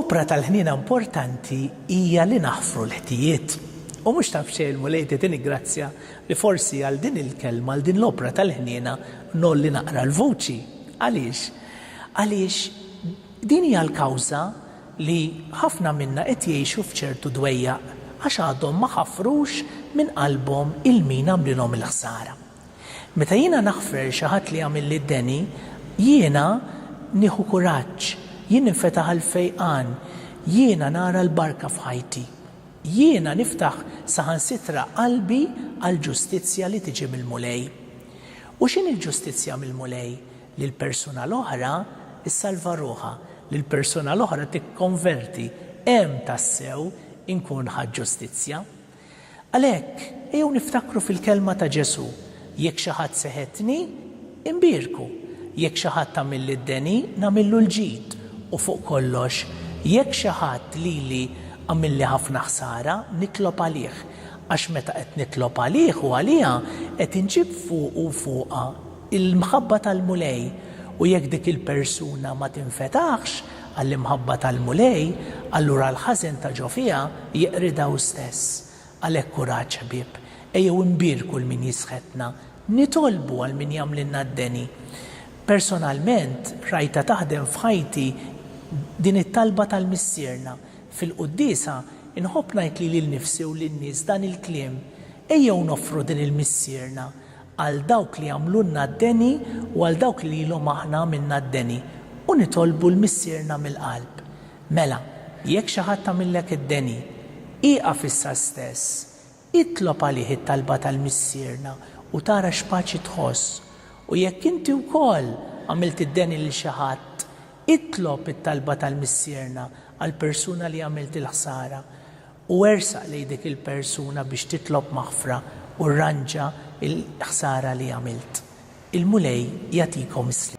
Opra tal-ħniena importanti hija li naħfru l-ħtijiet. U mhux taf xejn, Mulej, titini grazzja li forsi għal din il-kelma, għal din l-opra tal-ħniena, ngħolli naqra l-vuċi. Għaliex? Għaliex din hija l-kawża li ħafna minna qed jgħixu f'ċertu dwejjaq, għax għadhom ma ħafrux minn qalbhom 'il min għamlilhom il-ħsara. Meta jiena naħfer xi ħadd li għamilli d-deni, jiena nieħu kuraġġ, jien ninfetaħ għall-fejqan, jiena nara l-barka f'ħajti. Jiena niftaħ saħansitra qalbi għall-ġustizzja li tiġi mill-Mulej. U x'inhi l-ġustizzja mill-Mulej? lil persuna l-oħra, issalva ruħha, lil persuna l-oħra tikkonverti, hemm tassew inkun ħadt ġustizzja. Għalhekk, ejjew niftakru fil-kelma ta' Ġesù, Jekk xi ħadd seħetni, inbierku, jekk xi ħadd għamilli d-deni, nagħmillu l-ġid, u fuq kollox, jekk xi ħadd lili għamilli ħafna ħsara, nitlob għalih, għax meta qed nitlob għalih u għaliha, qed inġib fuqu u fuqha Il-mħabba tal-Mulej, u jekk dik il-persuna ma tinfetaħx għall-imħabba tal-Mulej, allura l-ħażen ta' ġo fiha jeqridha hu stess. Għalhekk kuraġġ, ħbieb, ejjew inbierku 'l min jisħetna, nitolbu għal min jagħmlilna d-deni. Personalment, rajtha taħdem f'ħajti din it-talba tal-Missierna. Fil-Quddiesa, inħobb ngħid lili nnifsi u lin-nies dan il-kliem, Ejjew noffru din il-Missierna, għal dawk li għamlulna d-deni u għal dawk li lilhom aħna għamilna d-deni, u nitolbu 'l Missierna mill-qalb. Mela, jekk xi ħadd għamillek id-deni, ieqaf issa stess, itlob għalih it-talba tal-Missierna u tara x'paċi tħoss. U jekk inti wkoll għamilt id-deni lil xi ħadd, itlob it-talba tal-Missierna għall-persuna li għamilt il-ħsara. u ersaq lejn dik il-persuna biex titlob maħfra u rranġa l-ħsara li għamilt. Il-Mulej jagħtikom is-sliem.